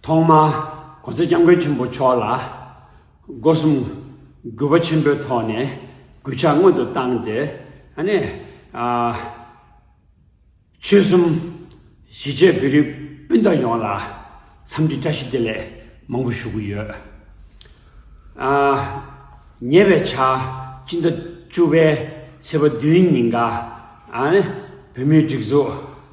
ཐོག་མར་གོ་ཚེ་སྐྱབས་མགོན་ཆེན་པོ་མཆོག་ལ་སྒོ་གསུམ་གུས་པ་ཆེན་པོའི་ཐོག་ནས་གུས་ཕྱག་སྔོན་དུ་བཏང་སྟེ་ཨ་ནི། ཆོལ་གསུམ་གཞིས་བྱེས་བོད་རིགས་སྤུན་ཟླ་ཡོངས་ལ་འཚམས་འདྲི་བཀྲ་ཤིས་བདེ་ལེགས་མང་པོ་ཞུ་གི་ཡོད། ཉེ་བའི་ཆར་སྤྱི་ཟླ་བཅུ་བའི་ཚེས་པ་བདུན་ཉིན་འགའ་ཨ་ནི་བོད་མིའི་སྒྲིག་འཛུགས།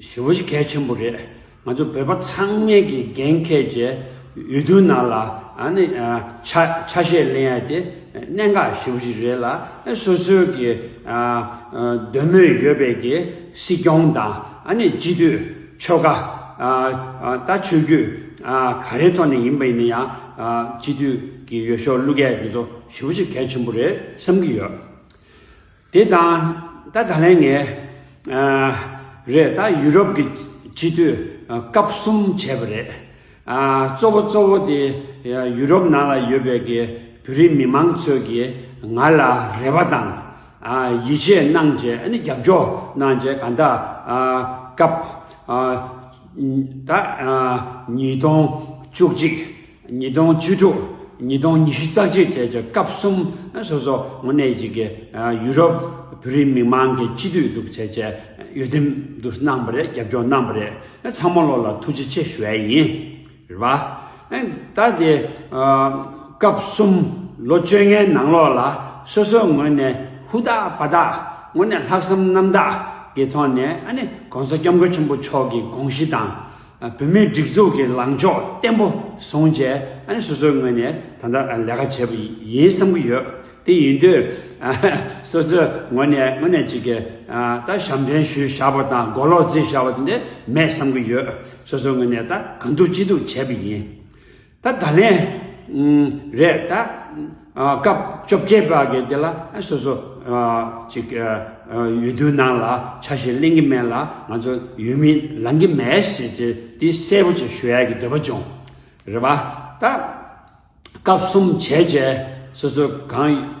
ཞོ་བཞི་གལ་ཆེན་པོ་རེད། ང་ཚོ་བོད་པ་ཚང་མས་ཀྱི་རྒན་མཁས་བཅས་འོས་བསྡུ་ནང་ལ་ཆ་ཤས་ལེན་ཡ་དེ་གནད་འགག་ཞོ་བཞི་རེད་ལ་སོ་སོའི་ཀྱི་འདོད་མོས་ཡོད་པའི་ཀྱི་སྲིད་སྐྱོང་དང་སྤྱི་འཐུས་ཆོལ་ཁ་ད་ཆོས་རྒྱུད་ག་རེའི་ཐོག་ནས་ཡིན་པ་ཡིན་ན་ཡང་སྤྱི་འཐུས་ཀྱི་ཡོ་ཤོ་གླུ་སྐད་འདི་ཚོ་ཞོ་བཞི་གལ་ཆེན་པོ་རེད་བསམ་གྱི་ཡོད། དེ་དང་ད་ད་ལན་ངས་རེད་ད་ཡུ་རོབ་ཀྱི་སྤྱི་མཐུས་སྐབས་གསུམ་བྱས་པ་རེད། གཙོ་བོ་གཙོ་བོ་དེ་ཡུ་རོབ་ནང་ལ་ཡོད་པའི་གི་བོད་རིགས་མི་མང་ཚོས་ཀྱིས་ང་ལ་རེ་བ་དང་ཡིད་ཆེས་གནང་རྗེས་ཨ་ནི་རྒྱབ་སྐྱོར་གནང་རྗེས་ག་ད་སྐབས་ད་ཉིས་སྟོང་བཅུ་གཅིག་ཉིས་སྟོང་བཅུ་དྲུག་ཉིས་སྟོང་ཉི་ཤུ་རྩ་གཅིག་བཅས་ཀྱི་སྐབས་གསུམ་སོ་སོ་ངོས་གནས་གཅིག་གི་ཡུ་རོབ་བོད་རིགས་མི་མང་གི་སྤྱི་འཐུས་གདུག་བྱས་བཅས་གཡོ་འདེམས་བསྡུ་གནང་བ་རེད་རྒྱབ་སྐྱོར་གནང་བ་རེད་ཚང་མ་བློ་ལ་ཐུགས་རྗེ་ཆེ་ཞུ་ཨེ་ཡིན་རེད་བ། ད་དེ་སྐབས་གསུམ་ལོ་བཅོ་ལྔའི་ནང་ལོགས་ལ་སོ་སོ་ངོས་གནས་ཧུ་དག་པ་དག་ངོས་གནས་ལྷག་བསམ་རྣམ་དག་གི་ཐོག་ནས་ཨ་ནི་གོང་ས་སྐྱབས་མགོན་ཆེན་པོ་མཆོག་གི་དགོངས་གཞི་དང། བུད་མེད་སྒྲིག་འཛུགས་ཀྱི་ལངས་ཕྱོགས་བརྟན་པོ་བཟུང་རྗེས་སོ་སོའི་ངོས་ནས་ད་ལྟ་ལས་ཀ་བྱེད་པ་ཡིན་བསམ་གྱི་ཡོད། དེ་ཡིན་དུས་སོ་སོའི་ངོས་ནས་དངོས་གནས་གཅིག་གིས་ད་ཞབས་འདྲེན་ཞུ་བཞག་པ་དང་མགོ་ལོག་རྫི་བཞག་པ་དེ་འདྲ་མེད་བསམ་གྱི་ཡོད། སོ་སོའི་ངོས་ནས་ད་གང་ཐུབ་ཅི་ཐུབ་བྱས་པ་ཡིན། ད་ད་ལན་རེད་ད། སྐབས་བཅོ་བརྒྱད་པ་གི་དེ་ལ་སོ་སོ་ཅིག་ཡུལ་དུས་ནང་ལ་ཆ་བཞིན་གླེང་གི་མེད་ལ་ང་ཚོ་ཡུལ་མིན་ལང་གི་མེད་ཟེར་ཏེ་དེ་གསལ་པོ་ཅིག་ཞུ་ཡ་གི་འདོད་པ་བྱུང། རེད་བ། ད། སྐབས་གསུམ་བྱས་རྗེས་སོ་སོ་གང།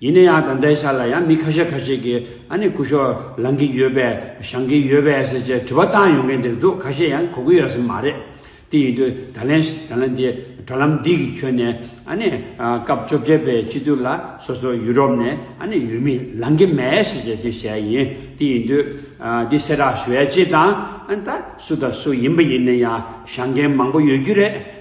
ཡིན་ན་ཡང་ད་ལྟའི་ཆ་ལ་ཡང་མི་ཁ་ཤས་ཁ་ཤས་ཀྱིས་ཨ་ནི་སྐུ་ཞོགས་ལངས་ཀྱི་ཡོད་པས་བཞང་གི་ཡོད་པས་ཟེར་བཅས་དྲི་བ་བཏང་ཡོང་མཁན་དེ་འདུག་ཁ་ཤས་ཡང་གོ་གི་ཡོད་སྲིད་མ་རེད། དེ་ཡིན་དུས་ད་ལན་ད་ལན་དེ་དྲ་ལམ་འདི་གི་ཁྱོན་ནས་ཨ་ནི་སྐབས་བཅོ་བརྒྱད་པའི་དཔྱིད་དུས་ལ་སོ་སོ་ཡུ་རོབ་ནས་ཨ་ནི་ཡུལ་མི་ལངས་ཀྱི་མེད་ཟེར་བཅས་དུས་བྱས་ཡིན་དེ་ཡིན་དུས་འདི་གསལ་བསྒྲགས་ཞུ་ཡ་ཅི་དང་ཨ་ནི་ད་སུ་དང་སུ་ཡིན་པ་ཡིན་ན་ཡང་བཞང་མཁན་མང་པོ་ཡོད་རྒྱུ་རེད།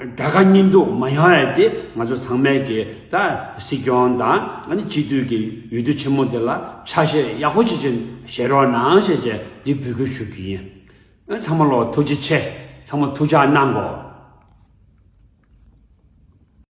དགྲ་དགའ་གཉེན་སྡུག་མ་ཡོང་ཨེ་དེ་ང་ཚོ་ཚང་མས་ཀྱི་ད་སྲིད་སྐྱོང་དང་ཨ་ནི་སྤྱི་འཐུས་ཀྱི་ཡུལ་དུས་ཆེན་མོ་དེ་ལ་ཆ་ཤས་ཡག་པོ་ཅིག་བྱེད་བྱེད་རོགས་གནང་ཞེས་བཅས་འདི་འབུལ་སྐུལ་ཞུ་རྒྱུ་ཡིན། ཚང་མ་ལོ་ཐུགས་རྗེ་ཆེ། ཚང་མ་ཐུགས་ཅག་གནང་གོ།